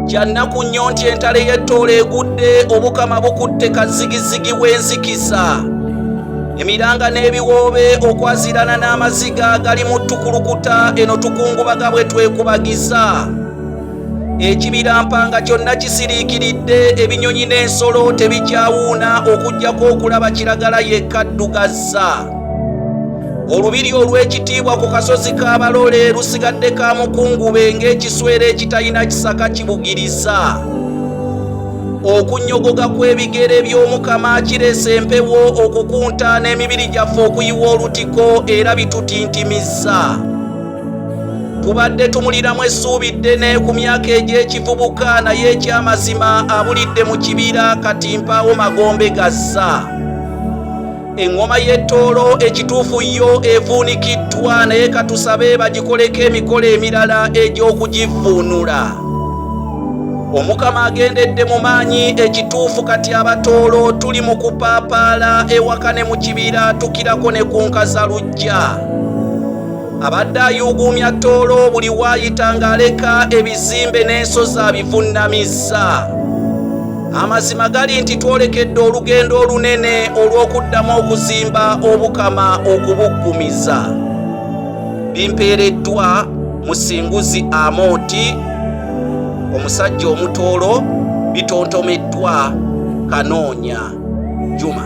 kyannaku nnyo nti entalo ey'ettoola egudde obukama bukutte kazigizigi w'enzikiza emiranga n'ebiwoobe okwazirana n'amaziga gali mu tukulukuta eno tukungubaga bwe twekubagiza ekibira mpanga kyonna kisiriikiridde ebinyonyi n'ensolo tebikyawuuna okuggyako okulaba kiragala yekka ddugazza olubiri olw'ekitiibwa ku kasozi ka balole lusigadde ka mukungube ng'ekiswera ekitalina kisaka kibugiriza okunyogoga kw'ebigere by'omukama kiresa empewo okukunta n'emibiri gyaffe okuyiwa olutiko era bitutintimiza tubadde tumuliramu essuubi ddene ku myaka egy'ekivubuka naye eky'amazima abulidde mu kibira kati mpaawo magombe gazza eŋŋoma y'ettoolo ekituufu yo evuunikiddwa naye katusabe bagikoleko emikolo emirala egy'okugivvuunula omukama agendedde mu maanyi ekituufu kati abatoolo tuli mu kupaapaala ewaka ne mu kibira tukirako ne ku nkaza lujja abadde ayuuguumya ttoolo buli waayita ng'aleka ebizimbe n'ensozi abivunnamizza Amazima gali nti twolekedde olugendo olunene olw'okuddamu okuzimba obukama okubuggumiza. Bimpeereddwa Musinguzi Amooti, omusajja omutoolo, bitontomeddwa Kanoonya Juma.